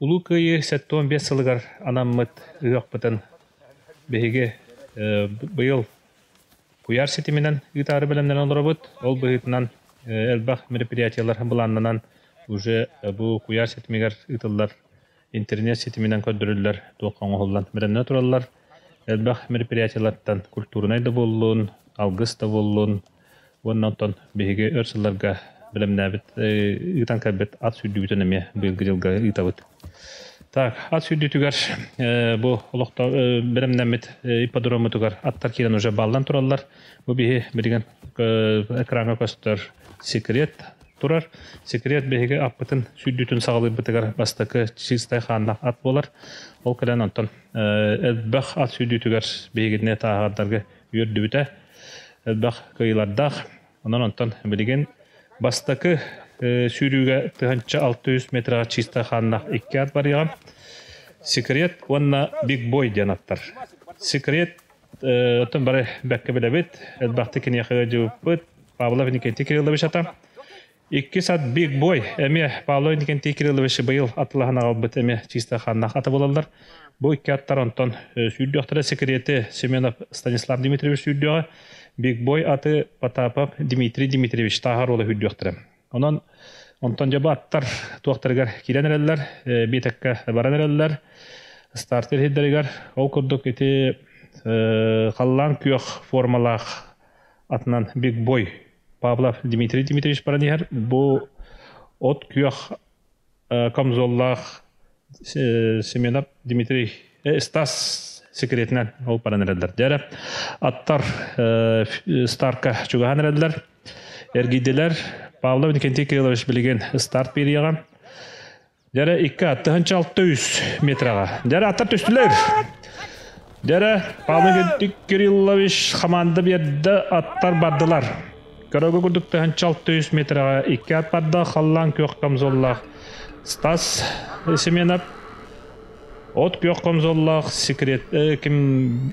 Улуу Кыайыы сэттэ уон биэс сылыгар анаммыт ыһыахпытын биһиги быйыл куйаар ситиминэн ыытаары бэлэмнэнэн олоробут. Ол быһыытынан элбэх мероприятиелар былааннанан уже бу куйаар ситимигэр ыытыллар интернет ситиминэн көрдөрүллэр туохха оҥоһуллан бэлэмнэнэ тураллар. Элбэх мероприятиелартан культурнай да буоллун, алгыс да буоллун, Уонна онтон биһиги өр сылларга бэлэмнээбит, ыытан кэлбит ат сүүрдүүбүтүн эмиэ быйылгы дьылга ыытабыт. Так, ат сүүрдүүтүгэр бу олохтоох бэлэмнэммит ипподроммутугар аттар киирэн уже бааллан тураллар. Бу биһи билигин экраҥҥа көстөр секрет турар. Секрет биһиги аппытын сүүрдүүтүн саҕалыырбытыгар бастакы чистай хааннаах ат буолар. Ол кэлэн онтон элбэх ат сүүрдүүтүгэр биһигини тааһардарга үөрдүбүтэ элбэх кыайыылардаах. Онон онтон билигин бастакы сүүрүүгэ тыһыынча алта жүз метрega чистая хааннаах икки ат барыаҕа. Секрет уонна Биг Бой диэн аттар. Секрет оттон бары бэккэ билэбит. Элбэхтик киниэхэ дьыбыппыт. Павлов Никитин Кириллович ата. Иккис ат Big Boy эмиэ Павло Иннокентий Кириллович быйыл атылаһан аҕалбыт эмиэ чыыстаах хааннаах ата буолаллар. Бу икки аттар онтон сүүрдүөхтэрэ секреты Семенов Станислав Дмитриевич сүүрдүөҕэ, Big Boy аты Потапов Дмитрий Дмитриевич тааһар уола сүүрдүөхтэрэ. Онон онтон дьобо аттар туохтарыгар киирэн эрэллэр, биэтэккэ баран эрэллэр. Старт ирһийдэригэр ол курдук ити халлаан күөх формалаах атынан Big Boy Павлов Дмитрий Дмитриевич баран иһэр бу от күөх камзоллаах Семенов Дмитрий Стас секретинэн ол баран эрэллэр дээрэ аттар старка чугаһан эрэллэр эргийдилэр Павлов Никентий Кириллович билигин старт периэҕэ Дьэрэ икки аттыһынча алта үс метрага. Дьэрэ аттар түстүлэр. Дьэрэ Павел Кириллович хамаанда биэрді аттар бардылар. Көрөгө курдук тыһынча алта үс метрага икки ат барда халлаан күөх комзоллаах Стас Семенов от күөх комзоллаах секрет э, ким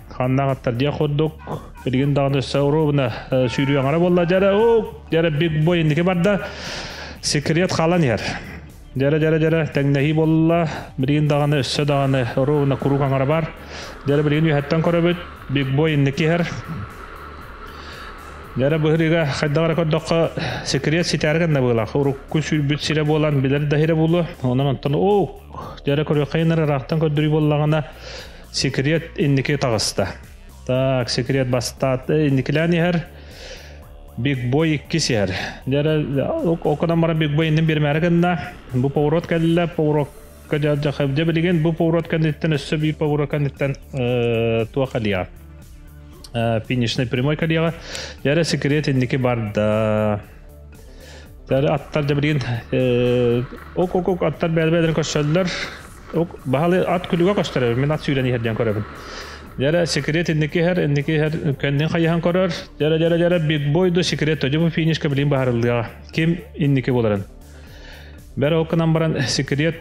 ханна аттар диэх курдук билигин даҕаны өссө оруобуна сүүрүөҥара буолла дьэрэ ук дьэрэ биг бой инники барда секрет хаалан иһэр дьэрэ дьэрэ дьэрэ тэҥнэһии буолла билигин даҕаны өссө даҕаны оруобуна куруук аҥара бар дьэрэ билигин үһэттэн көрөбүт биг бой инники иһэр дьэрэ быһырыыга хайдах эрэ көрдөххө секрет ситээри гынна быылах урукку сүүрбүт сирэ буолан билэр да сирэ буолуо онон онтон ук дьэрэ көрүөххэ ынар ыраахтан көрдөрүү буоллаҕына Секрет инники таҕыста. Так, секрет бастаат инникилээн иһэр. Big Boy иккис иһэр. Окунан бара Big Boy иннин бирмээри гынна. Бу поворот кэллэ, поворотка дьахабдя билигин бу поворот кэнниттэн өссө биир поворот кэнниттэн туох алия. Финишный прямой калияга. Яра секрет инники барда. Аттар да билигин ок ок ок аттар бэдэ-бэдэрин көссөллөр. Баһылай ат күлүгэ көстөрө, мин ат сүүрэн иһэр диэн көрөбүн. Дьэрэ секрет инники иһэр, инники иһэр кэннин хайыһан көрөр. Дьэрэ дьэрэ дьэрэ биг бойду секрет төдүм финишка билин баһарыллыаҕа. Ким инники боларын. Бэр окканан баран секрет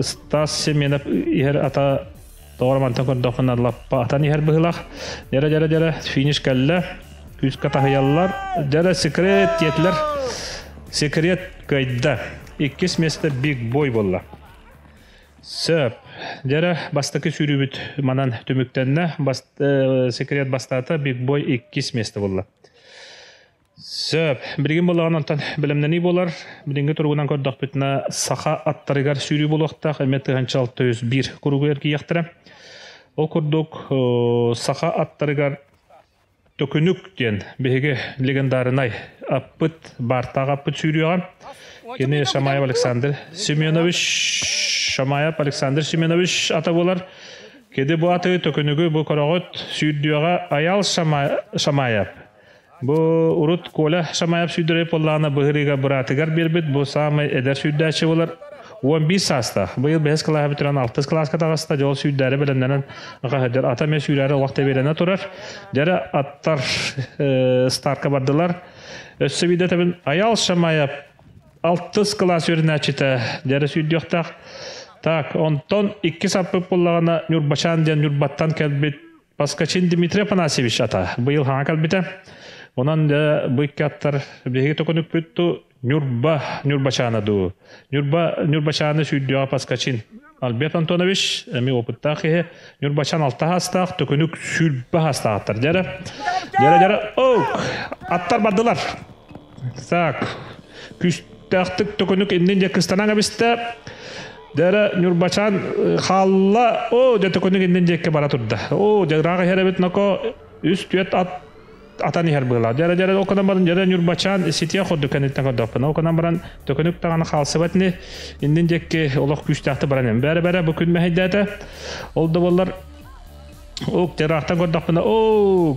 Стас Семенов иһэр ата Тоҕо мантан көрдөххүнэ лаппа атан иһэр быһыылаах. Дьэрэ дьэрэ дьэрэ финиш кэллэ. Күүскэ таһыйаллар. Дьэрэ секрет диэтилэр. Секрет кыайда. Иккис миэстэ биг бой буолла. Сөп. Дьэрэ бастакы сүүрүүбүт манан түмүктэннэ. Бас, э, секрет бастаата. Биг бой иккис миэстэ булла. Сөп. Билигин буоллаҕына онтон бэлэмнэнии буолар. Билиҥҥи туругунан көрдөхпүтүнэ, саха аттарыгар сүүрүү буолуохтаах эмиэ тыһыынча алта жүз биир куругу эргийиэхтэрэ. Ол курдук, саха аттарыгар Төкүнүк диэн биһиги легендарнай аппыт, баартаах аппыт сүүрүөҕэ. Кини Шамаев Александр Семенович, Шамаев Александр Семенович ата буолар. Кини бу аты, төкүнүгү, бу көрөҕүт, сүүрдүөҕэ Аял Шамаев. Бу урут Коля Шамаев сүүрдэрэй поллаана быһырыыга быраатыгар биэрбит бу саамай эдэр сүүрдээччи болар он биир саастаах. Быйыл бэһис кылааһы бүтүрэн алтыс кылааска таҕыста, дьол сүүрдээри бэлэмнэнэн ҕаһыдыр ата эмэ сүүрээри олох тэбиэлэнэ турар. Дьэрэ аттар старка бардылар. Өссө биирде тэбин Аял Шамаев алтыс кылаас үөрүнээччитэ дьэрэ сүүрдүөхтээх. Так, онтон икки саппыт буллаҕана Ньурбачаан диэн Ньурбаттан кэлбит Паскачин Дмитрий Афанасьевич ата быйыл хаҥа кэлбитэ. Онон бу икки аттар биһиги токунуппүтту Ньурба Ньурбачаана дуу. Ньурба Ньурбачааны сүйдүөҕэ Паскачин Альберт Антонович, эми опыттаах киһи, Ньурбачан алта хаастаах, төкүнүк сүүрбэ хаастаахтар. Дьэрэ, дьэрэ, дьэрэ, оук! Аттар бардылар. Так, күстээхтик төкүнүк иннин дьэ кыстанан кэбистэ. Дэрэ Ньурбачаан хаалла, оо, дьэ төкүнүк иннин дьэкке бара турда. Оо, дьэ ыраах иһэр эбит ноко үс-түөрт ат атан иһэр быыла. Дэрэ дэрэ окунан баран дэрэ Ньурбачаан ситиэ курдук кэнниттэн көрдөхпүнэ окунан баран төкүнүк таҕана хаалсыбат ини иннин дьэкки олох күүстээхтик баран эм. Бэрэ бэрэ бу күн мэһэйдээтэ. Ол да буоллар Ук, ыраахтан көрдөхпүнэ, оо,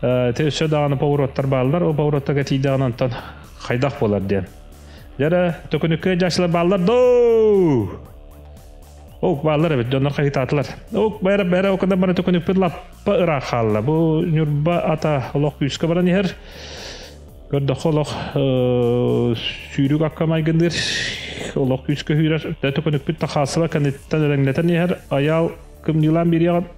Те өссө даҕаны повороттар бааллар, ол повороттарга тиийдэҕинэ онтон хайдах буолар диэн. Дьэ, төкүнүккэ дьаачылар бааллар доо! Ук бааллар эбит, дьоннор хайытаатылар. Ук бәрэ бәрэ окада бары төкүнүппүт лаппа ыраах хаалла. Бу Ньурба ата олох күүскэ баран иһэр. Көрдөххө олох сүүрүк акка майгынныыр, олох күүскэ сүүрэр. Төкүнүппүт тахаасыла кэнниттэн элэҥнэтэн иһэр. Аял кымньыылаан биэриэҕин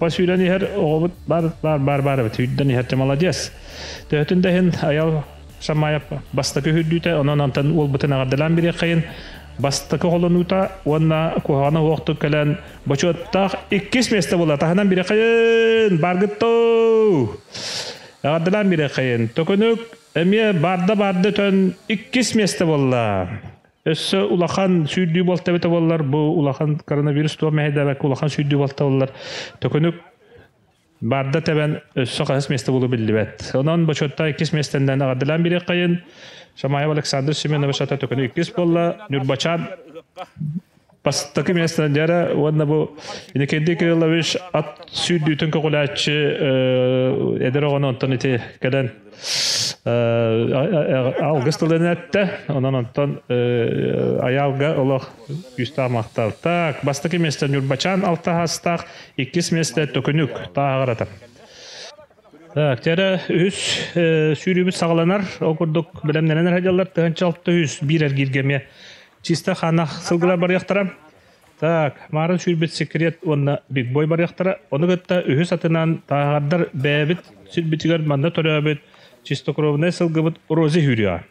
Бу сүүрэн иһэр оҕобут бар бар бар бар эбит сүүрдэн иһэр дьэ молодец. Төһөтүн да иһин Айал Шамаев бастакы үрдүүтэ онон антан уолбутун эҕэрдэлээн бириэххэйин бастакы холонуута уонна куһаҕана уохтук кэлэн бочуоттаах иккис миэстэ була таһынан бириэххэйин баргыттуу эҕэрдэлээн бириэххэйин төкүнүк эмиэ барда барды төн иккис миэстэ буолла Өссө улахан сүүрдүү балта эбитэ буоллар, бу улахан коронавирус туо мэһэйдээбэккэ улахан сүүрдүү балта буоллар, төкүнүк барда тэбэн өссө хаһыс месте булу биллибэт. Онон бочуотта иккис местенден аҕардылаан бириэккайын Шамаев Александр Семенович ата төкүнү иккис буолла, Нюрбачан бастакы миэстэнэн дьэрэ уонна бу Иннокентий Кириллович ат сүүрдүүтүн көҕүлээччи эдэр оҕону онтон ити кэлэн алгыс тылын эттэ онон онтон аялга олох күүстээх махталтак бастакы миэстэ ньурбачаан алтаһаастаах иккис миэстэ төкүнүк тааҕарата Дьэ эрэ үһүс сүүрүүбүт саҕаланар. Ол курдук бэлэмнэнэн садьаллар тыһыынча алта үс биир эргииргэ эмиэ чисто хаана сылгылар барыахтара. Так, марын сүүрбүт секрет уонна Биг Бой барыахтара. Ону кытта үһүс атынан тааһардар бэйэбит сүрбүтүгэр манна төрөөбүт чистокровнай сылгыбыт рози сүүрүөҕэ.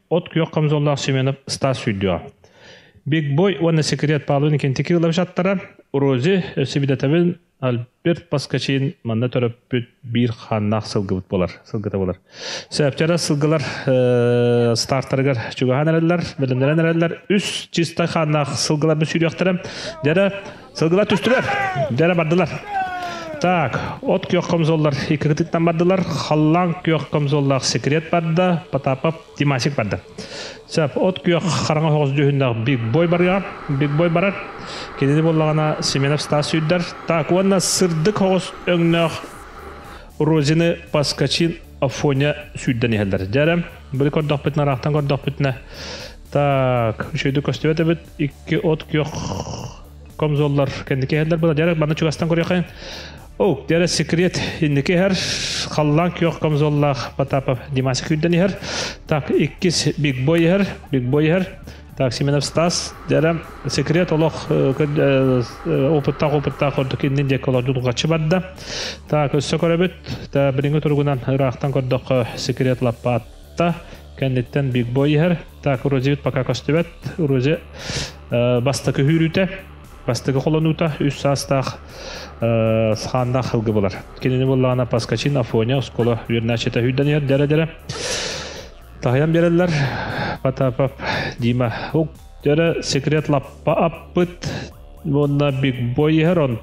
от-күөх камзоллаах Семенов Стас сүүрдүөҕэ. Биг Бой уонна Секрет Палуин кентики ылабжаттара Рози Сибидэтэбин Альберт Паскачин манна төрөппүт биир хааннаах сылгыбыт болар сылгыта болар. Сөптері сылгылар э, стартарыгар чугаһан эрэллэр, бөлөннөрөн эрэллэр. Үс чистай хааннаах сылгылар мүсүрүөхтэрэ. Дәрі Сылгылар түстүлэр. Дэрэ бардылар. Так, от күөх комзоллар икки кытыттан бардылар. Халлаан күөх комзоллаах секрет барда, Потапов Димасик барды. Сөп, от күөх хараҥа оһоҕос дүүһүннээх Биг Бой барыа. Биг Бой барар. Кинини боллагана Семенов Стас сүйдер. Так, уонна сырдык оҕос өңнөөх Розины Паскачин Афоня сүйден иһелдер. Дәрем, были көрдөхпүтүнэ, арақтан көрдөхпүтүнэ. Так, үшөйді көстібет икки от күөх комзоллар кэнники иһэллэр була дьэ манна чугастан көрүөххэ оу дьэ секрет инники иһэр халлаан күөх комзоллаах Потапов Димасик үйдэн иһэр так иккис биг бой иһэр биг бой иһэр так Семенов Стас дьэ секрет олох опыттаах опыттаах ордук иннин диэки олордуу дулгаччы барда так өссө көрөбүт та билиҥҥи туругунан ыраахтан көрдөххө секрет лаппаат Да, кэнниттэн Big Boy иһэр. Так, Уродьевит пока көстүбэт. Уродье бастакы үүрүүтэ, бастакы холонуута үс саастаах схааннаах хылгы булар. Кинини буллаҕына Паскачин, Афоня, Ускола үөрнээччитэ үүрдэн иһэр дэрэ-дэрэ. Тахайан береллер. Потапов Дима. Өрө секрет лаппа аппыт. Уонна Big Boy иһэр, он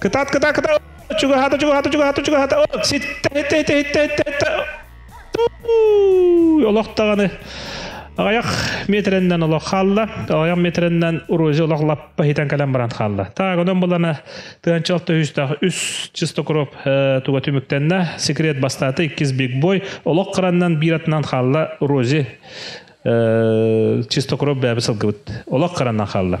Кытат кыта кыта чугаһата чугаһата чугаһата чугаһата олох даҕаны аҕайах метреннен олох хаалла аҕайах метреннен урузи олох лаппа хитэн кэлэн баран хаалла так онон булана тыанча алта үстэх үс чистокроп туга түмүктэннэ секрет бастаты иккис биг бой олох кыраннан бир атынан хаалла урузи чистокроп бәбі сылгыбыт олох кыраннан хаалла